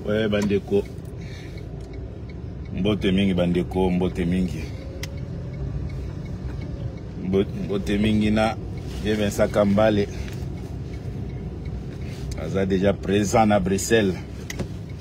oye bandeko mbote mingi bandeko mbote mingi mbote mingi na ye vincent kambale aza deja présent na bruxelles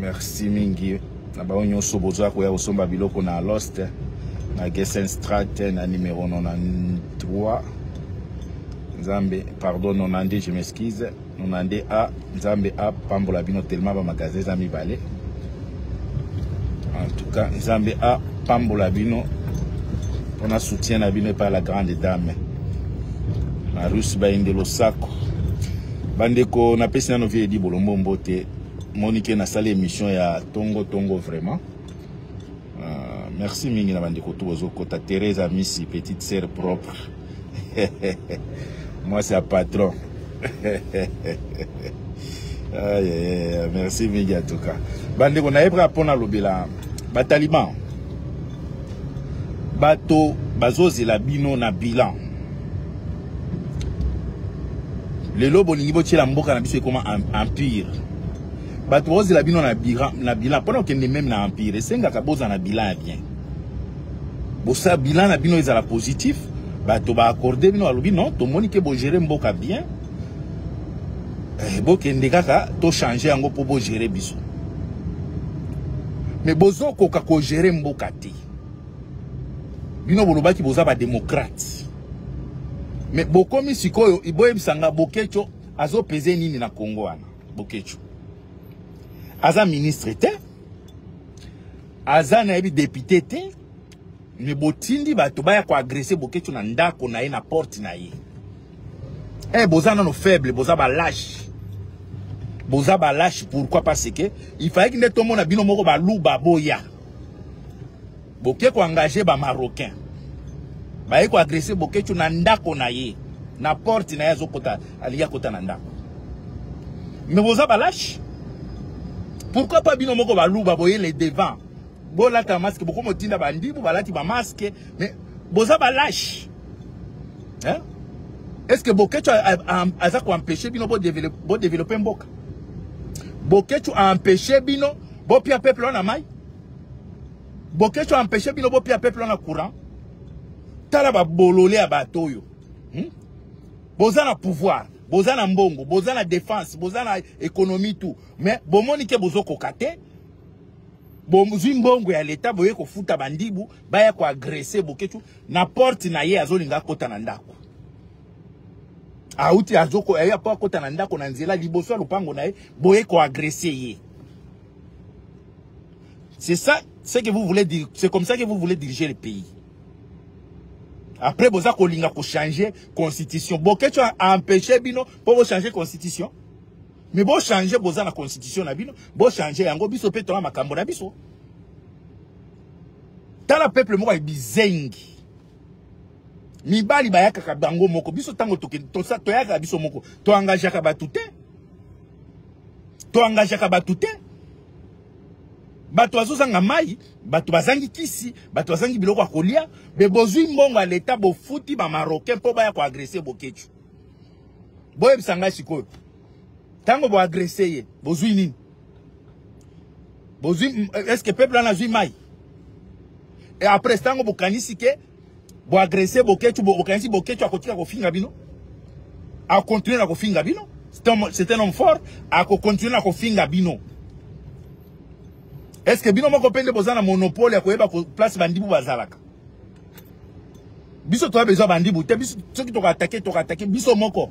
merci mingi na bango nyonso bozoya koya kosomba biloko na lost na gesen strat na numero 93 nzambe pardon 92 je m'excuse 92 a nzambe apambola bino telema bamagasin eza mibale en tout cas nzambe apambola bino mpona soutien na bino epai la grande dame na russe bainde losako Bandeko, napesi nano vie Eddy Bolombo mbote. Monique nasali émission ya tongo tongo vraiment. Uh, merci mingi na bandeko tout bozokota Thérèse Amisi petite sœur propre. Moi c'est un patron. ah, yeah, merci mingi en tout cas. Bandeko nayebra pona lobela ba talibans. Bato bazozela bino na bilan. lelo bolingi botyela mboka na biso ekoma empire bato baozela bino na bilan mpona okende meme na empire esengaka bozala na bilan ya bien bosa bilan na bino ezala positif bato baakorde bino balobi non tomoni ke bogere mboka bien eh, bokende kaka tochange yango mpo bogere biso me bozokoka kogere mboka te bino bolobaki boza bademokrate Mais bokomi sikoyo iboyebisa nga Boketsho azo peser nini na Congo wana Boketsho. Aza ministre te. Aza na yebi député te. Mais botindi bato baya ko agresser Boketsho na ndako na ye na porte na ye. Eh boza nano faible, boza ba lâche. Boza ba lâche pourquoi parce que il fallait que nde tomona bino moko ba luba boya. boke ko engage ba marocain baye ko agresse bokechu na ndako na ye na porte na ye azokota alingi akota na ndako me boza balache pourquoi pas bino moko baluba boye le devant bolata maske bokomotinda bandibu balati bamaske me boza balache hein? est ce que bokechu aza koempeshe bino bodevelope mboka bokechu aempeshe bino bopia peuple wana mai Boketsho empêche bino bopia peuple wana courant tala babolole ya bato oyo hmm? boza na pouvoir boza na mbongo boza na défense boza na économie tout mais bomoni ke bozokoka te bozwi mbongo ya leta boye kofuta bandibu baya koagrese boketshu na porte na ye azolinga akota na ndako auti azokoya ye apo akota na ndako na nzela liboso ya lopango na ye boye koagrese ye C'est ça, ce que vous voulez dire, c'est comme ça que vous voulez diriger le pays. Après, boza kolinga ko changer constitution. Boketcho a empêché bino pour vous changer constitution. Mais bon changer boza la constitution na bino, bon changer yango biso pe tona makambo na biso. Tala peuple moko bizengi. Mibali bayaka bango moko biso tango toke to sa toyaka biso moko. To engageaka batute. to engageaka bato te bato bazozanga mai bato bazangi kisi bato bazangi biloko ya kolia me bozwi mbongo ya leta bofuti bamarocain mpo baya koagrese bokecu boyebisa ngai sikoyo ntango boagrese ye bozwi nini bozwi eske peuple wana azwi mai e après ntango bokanisi ke Bo agresser Boketshu, bo okanisi Boketshu akotika kofinga bino? A continuer na kofinga bino? C'est un, c'est un homme fort, a continuer na kofinga bino. Est-ce que bino moko pende boza na monopole ya koyeba ko place bandibu bazalaka? Biso toa besoin bandibu te, biso soki toko attaquer, toko attaquer biso moko.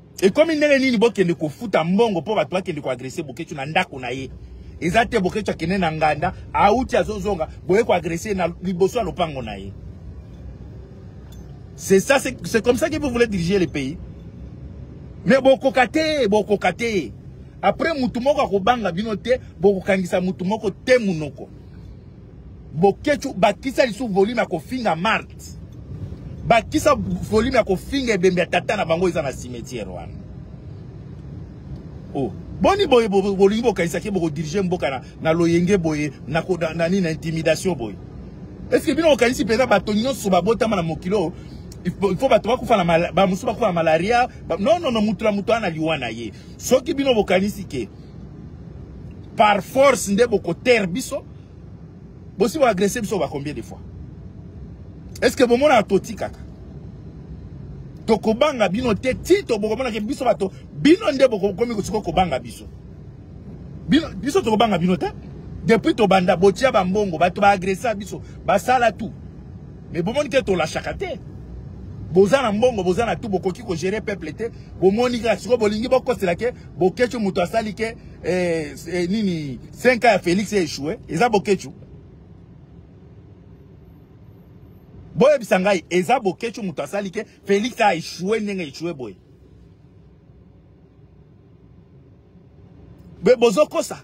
ekomi ndenge nini bokende kofuta mbongo mpo bato bakende koagrese boketshu na ndako na ye eza te boketshu akende na nganda auti azozonga boye koagrese na liboso ya lopango na ye c'est ça c'est comme ça que vous voulez diriger le pays mais bokoka te bokoka te après motu moko akobanga bino te bokokangisa motu moko te monoko Boketshu bakisa lisu volume ya kofinga Mart. Bakisa volume ya kofinga ebembe ya tata na bango eza na cimetière wana. Oh, boni boye bolingi bokanisa ke boko diriger mboka na, na loyenge boye na, na, na nini na intimidation boye. Est-ce que bino okanisi peza bato nyonso babotama na mokilo il faut bato bakufa na bamosusu bakufa na malaria non non non motu na motu wana liwa na ye soki bino bokanisi ke par force nde bokotere biso bosi boagresse biso ba combien de fois est ce que bomonaka totikaka tokobanga bino te ti tobokomonaka biso bato bino nde bokokomi kosiko kobanga biso bino biso tokobanga bino te depuis tobanda botia bambongo bato baagressa biso basala tout mais bomoni ke tolashaka te boza na mbongo boza na tout bokoki kogere peuple te bomoni kaka sikoyo bolingi bokosela ke Boketshu mutu asali ke eh, eh, nini 5 ans ya Felix ya échoué eza Boketshu. boyebisa ngai eza boketshu moto asali ke félix a échoué ndenge échoué boye be bozokosa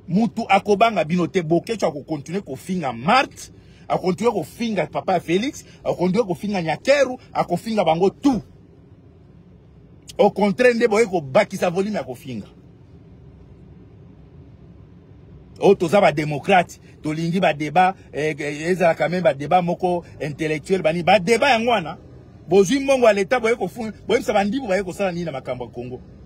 mutu akobanga bino te boketshu akokontinue kofinga marte akontinue kofinga papa ya félix akontinue kofinga nyakeru akofinga bango tout au contraire nde boye kobakisa volume ya kofinga oyo oh, toza bademokrate tolingi badeba eh, eh, ezalaka meme badeba moko intellectuel banini badeba yango wana bozwi mbongo ya leta boye koyebisa bandibu baye kosala nini na makambo ya congo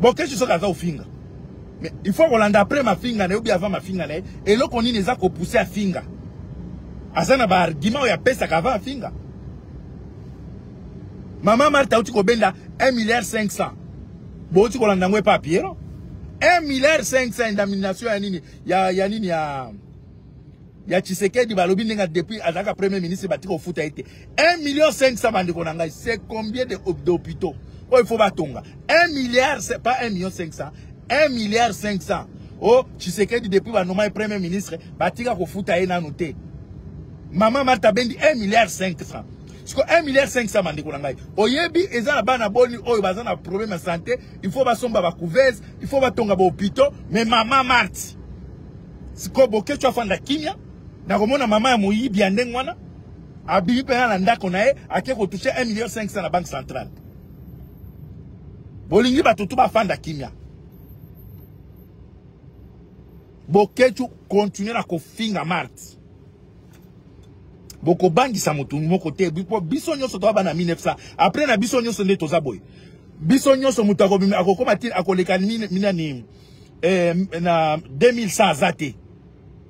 Bokesho soki aza ofinga. Mais il faut kolanda après mafinga na yo bien avant mafinga na ye. Eloko nini eza ko pousser afinga. Aza na ba argument ya pesa ka va afinga. Mama Martha uti kobenda 1 milliard 500. Bo uti kolanda ngwe pa Pierrot. 1 milliard 500 indemnisation ya nini ya ya nini ya ya Tshisekedi balobi ndenge depuis azalaka premier ministre batika kofuta ye te 1 million 500 bandeko na ngai c'est combien de d'hôpitaux oyo faut batonga 1 milliard pas 1 million 500 1 milliard 500 oh Tshisekedi depuis banoma ye premier ministre batika kofuta ye nanu te mama Martha Bendi 1 milliard 500 siko 1 milliard 500 bandeko na ngai oyebi eza na bana boni oyo baza na problème ya santé il faut basomba ba couveuse il faut batonga ba hôpitaux mais mama Marthe sikoyo boketsho afanda kimia nakomona mama ya moyibi ya ndenge wana abimi mpena na ndako na ye ake kotouche 1 million 500 na banque centrale bolingi bato tu bafanda kimia boketshu continue na kofinga marte bokobangisa motu moko te mpo biso nyonso toa bana 1900 apres na biso nyonso nde toza boye biso nyonso moto akokoma ti akoleka nini eh, na 2100 aza te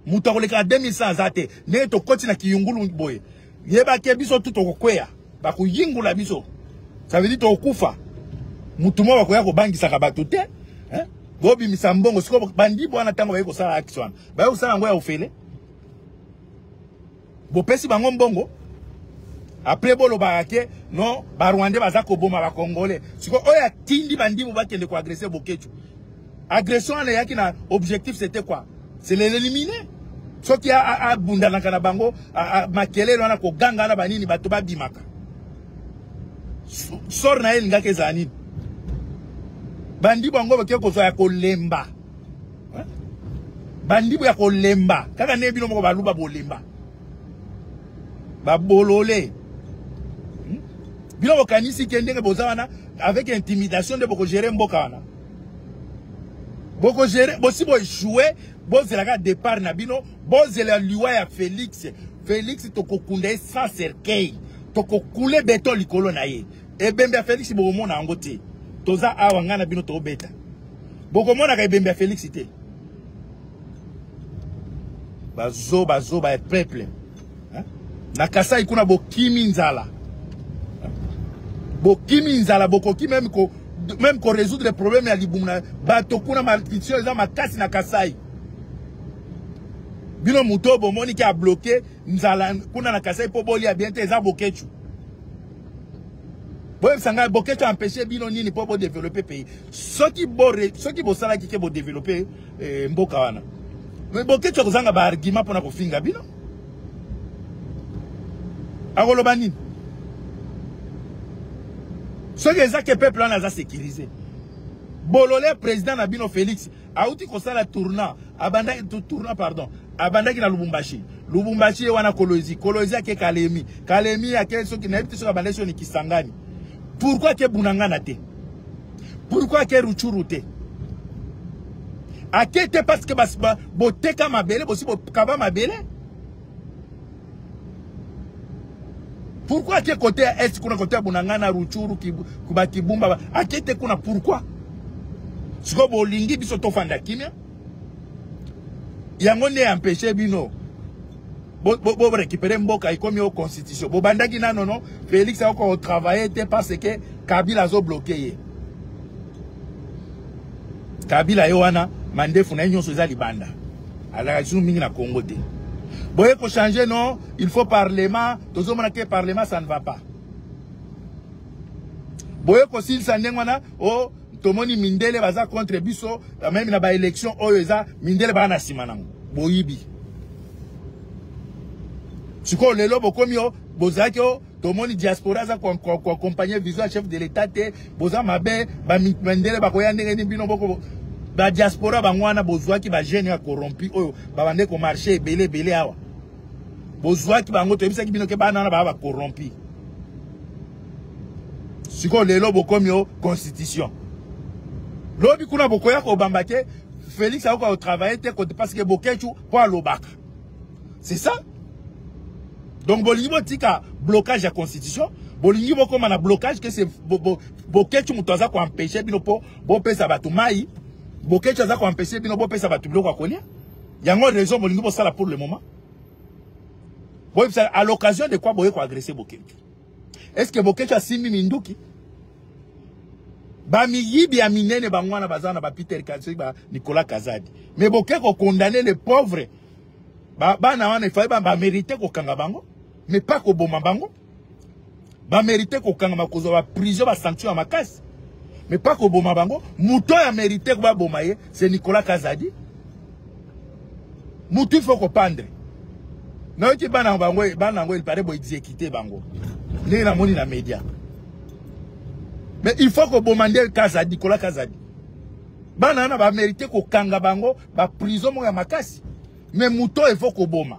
moto akolekaka 2100 aza te ndenge tokoti na kiyungulu boye yebake biso tu tokokweya bakoyingula biso ça veut dire tokokufa motu moko bakoya kobangisaka bato te hein? bobimisa mbongo sikoyo bandi bwana ntango baye kosala axe wana baye kosala yango ya ofele bopesi bango mbongo apres bolobaka ke non barwandais baza koboma bacongolais sikoyo oyo atindi bandimu bakende koagrese bokecu agression wana eyaki na objectif c'était quoi c'est l'élimine soki abundanaka na bango makelele wana koganga wana banini bato babimaka sor na ye elingaki ezala nini bandi bango bake kozwa ya kolemba bandibu ya kolemba kaka nde bino moko baluba bolemba babolole hmm? bino bokanisi ke ndenge boza wana avec intimidation nde bokogere mboka wana bokogere bosi boechoue bozela kaka départ na bino bozela liwa ya félix félix tokokunda ye sans cercueil tokokule beton likolo na ye ebembe ya félix bokomona yango te toza awa ngai na bino tobeta bokomonaka ebembe ya felix te bazoba zoba ya peuple na kasai kuna bokimi nzala bokimi nzala bokoki meme ko meme ko résoudre problème ya libumu na bato kuna malnutrition eza makasi na kasai bino moto oyo bomoni ke abloke nzala kuna na kasai mpo bolia bien te eza bokechu boyebisa ngai bokechu ampeshe bino nini mpo bodeveloppe pays soki bo soki bosalaki ke bodevelope eh, mboka wana me boketsha kozanga baargument mpona kofinga bino akoloba nini soki eza ke peuple wana aza sécurise bolole président na bino félix auti kosala tourna abandaki tourna pardon abandaki na lubumbashi lubumbashi ye wana kolozi kolozi ake kalemi kalemi ake soki nayebi te soki abandaki soni kisangani pourkui ake bunangana te pourkui ake ruchuru te ake te parce que boteka mabele bosi bokaba mabele Pourquoi ake côté ya est kuna côté ya Bunangana Ruchuru kuba Kibumba ake te kuna pourquoi? Siko bolingi biso tofanda kimia. Yango ne empêcher bino bo bo, bo récupérer mboka ikomi au constitution. Bo bandaki nano non Félix akoko travailler te parce que Kabila azo bloquer ye. Kabila ye wana mandefu na ye nyonso eza libanda. alaka lisusu mingi na congo te boye kochange non il faut parlement tozomona te parlement ça ne va pas boye kosilisa ndenge wana o oh, tomoni mindele baza contre biso meme na baélection oyo eza mindele baa na nsima nango boyibi sikoyo lelo bokomi o oh, bozalaki o oh, tomoni diaspora aza koakompagne vision ya chef de l'etat te boza mabe bamindele bakoya ndenge nini bino boko badiaspora bango wana bozwaki bajeune ya corrompi oyo babande komarche ebele ebele awa bozwaki bango toyebisaki bino ke bana wana baa bacorrompi sikoyo lelo bokomi o constitution lobi kuna bokoya kobamba te félix akoka kotravaille te parce que boketshu mpo alobaka c'est ça donc bolingi botika blocage ya constitution bolingi bokoma na blocage kese boketchu moto aza koempeshe bino mpo bopesa bato mai boketchu aza koempeshe bino bopesa bato biloko ya kolia yango raison bolingi bosala pour le moment boyebisa à l'occasion de quoi boye koagresse boketchu Est-ce que Boketshu asimbi minduki? Ba miyibi ya minene bangwana bazana ba Peter Katsui ba Nicolas Kazadi. Mais boke ko condamner les pauvres. Ba bana wana ifai ba, ba mériter ko kanga bango mais pas ko boma bango. Ba mériter ko kanga makozo ba prison ba sanction ya makasi. Mais pas ko boma bango, muto ya mériter ko ba boma ye, c'est Nicolas Kazadi. mutu faut kopandre nayoki bana bango bana yango elpare boexekite bango ndenge namoni na media mais il faut koboma nde kazadi kola kazadi bana wana bamerite kokanga bango baprison moko ya makasi mais moto oyo efo koboma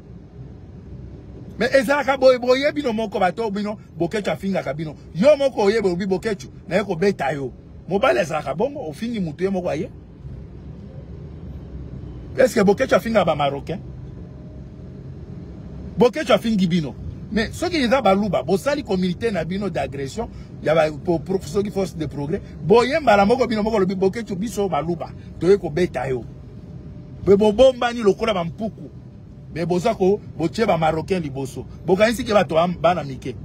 me ezalaka boye boye bino moko bato bino bokecu afingaka bino yo moko oyebe obi bokecu naye kobeta yo mobali azalaka bongo ofingi motu ye moko aye eske bokecu afingaka bamarocain bokecu afingi bino mais soki eza baluba bosali communauté na bino d'agression ya soki force de progrès boye mbala moko bino moko lobi bokecu biso baluba toye kobeta yo bobombani lokola bampuku mais boza ko botie ba marocain liboso bokanisi ke bato bana mike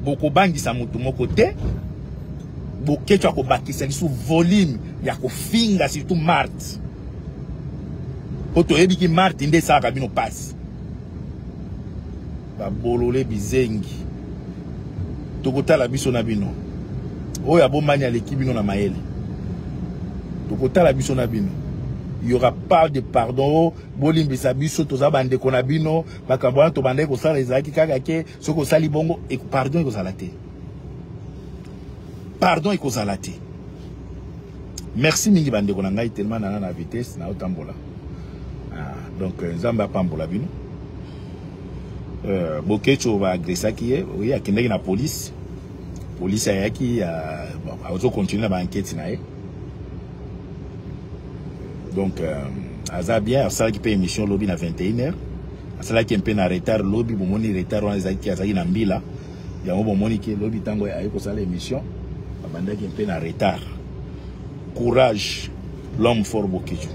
bokobangisa motu moko te bokeco akobakisa lisu volume ya kofinga surtout marte mpo toyebi ki marte nde esalaka bino mpasi ba bolole bizengi tokotala biso na bino oyo abombani aleki bino na mayele tokotala biso na bino il y aura pas de pardon bolimbisa biso toza bandeko na bino makambo wana tobandaki kosala ezalaki kaka ke soki osali bongo e, pardon ekozala te pardon ekozala te Merci mingi bandeko na ngai tellement nana na vitesse na otambola. Ah, donc euh, Nzambe apambola bino. Euh, Bokecho ba agressaki ye, oui akendaki na police. Police ayaki ya bon, azo continuer na ba enquête na ye. Donc euh, aza bien asalaki pe émission lobi na 21h. Asalaki un peu na retard lobi, bomoni retard wana ezalaki azalaki na mbila. yango bomoni ke lobi ntango aye kosala émission abandaki mpe na retard courage l'homme fort bokiju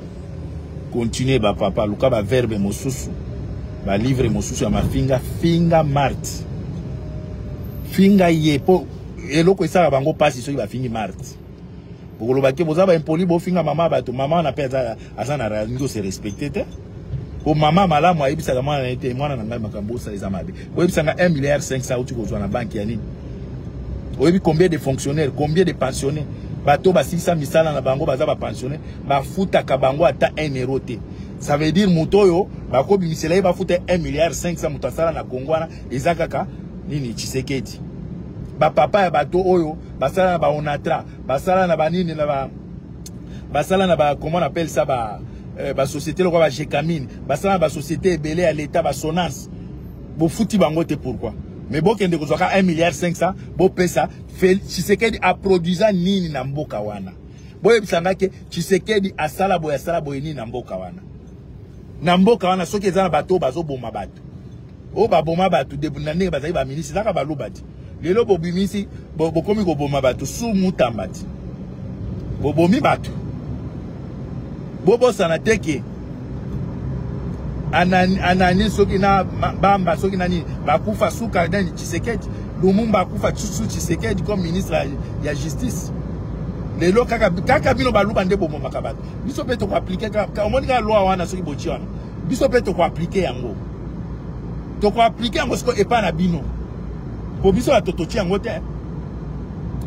continue bapapa luka baverbe mosusu balivre mosusu ya mafinga finga marte finga ye mpo eloko esala bango mpasi soki bafingi marte bokoloba ke boza baimpoli bofinga mama bato mama wana mpe aza na rango se respecte te po mama malamu ayebisaka mwana na ye te mwana na ngai makambo osala eza mabe oyebisa nga 1 milliard 500 auti kozwa na banki ya nini oyebi combien de fonctionnaire combien de pensionnaire bato basilisa misala na bango baza bapensionnaire bafutaka bango ata 1 euro te ça veut dire moto oyo bakobimisela ye bafuta 1 milliard 500 moto asala na kongo wana eza kaka nini tshisekedi bapapa ya bato oyo basala na baonatra basala na banini na ba basala na ba comment on appelle ça ba euh, ba société lokola ba Jecamine basala na ba société ebele ya l'État ba Sonas bofuti bango te pourquoi mais bokende kozwaka 1 milliard 500 bopesa Tshisekedi aproduisa nini na mboka wana boyebisa nga ke Tshisekedi asala boye asala boye nini na mboka wana na mboka wana soki eza na bato oyo bazoboma bato oyo baboma bato na ndenge bazali baministre ezaka baluba ti lelo bobimisi bokomi koboma bato su mutamba ti bobomi bato bobosana te ke anani soki na bamba soki na nini bakufa suka nani tshisekedi lumumba akufa su tshisekedi comme ministre ya, ya justice lelo kaka, kaka bino baluba nde bomomaka bato biso mpe tokoaplike omoni kaka loi wana soki botyi wana biso mpe tokoaplike yango tokoaplike yango siko epai na bino mpo biso bato totye yango te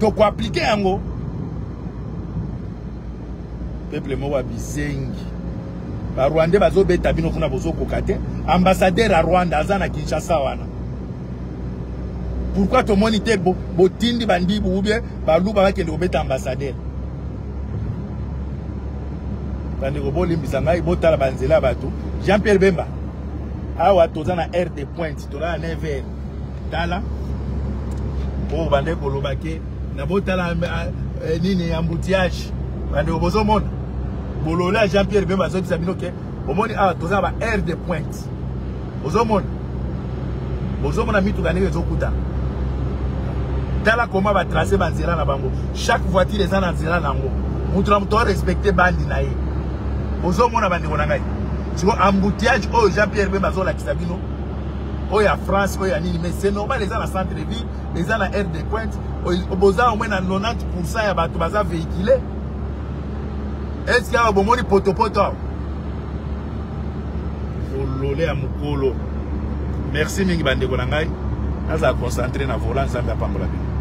tokoaplike yango peuple moko ya bizengi barwandais bazobeta bino kuna bozokoka te ambassadeur ya rwanda aza na kinshasa wana pourkui tomoni te botindi bandibu ubie baluba bakende kobeta ambassadeur bandeko bolimbisa ngai botala banzela ya bato jean pierre bemba awa toza na aire de pointe toza na 9 heure tala oyo bande koloba ke na botala eh, eh, nini embouteillage bandeko bozomona bolole ya jean pierre bemba azobisa bino ke omoni awa toza na ba aire de pointe ozomona ozomona mituka ndenge ezokutana tala koma batrace banzela na bango chaque voiture eza na nzela na yango moto na moto arespecte bandi na ye ozomona bandeko na ngai siko embouteillage oyo jean pierre bemba azolakisa bino oyo ya france oyo ya nini mais c'est normal eza na centre de ville eza na aire de pointe boza omwe na 90 pourcent ya bato baza véhicule eske awa bomoni potopoto awa bolole ya mokolo merci mingi bandeko na ngai nazala concentre na vola nzambe apambola bino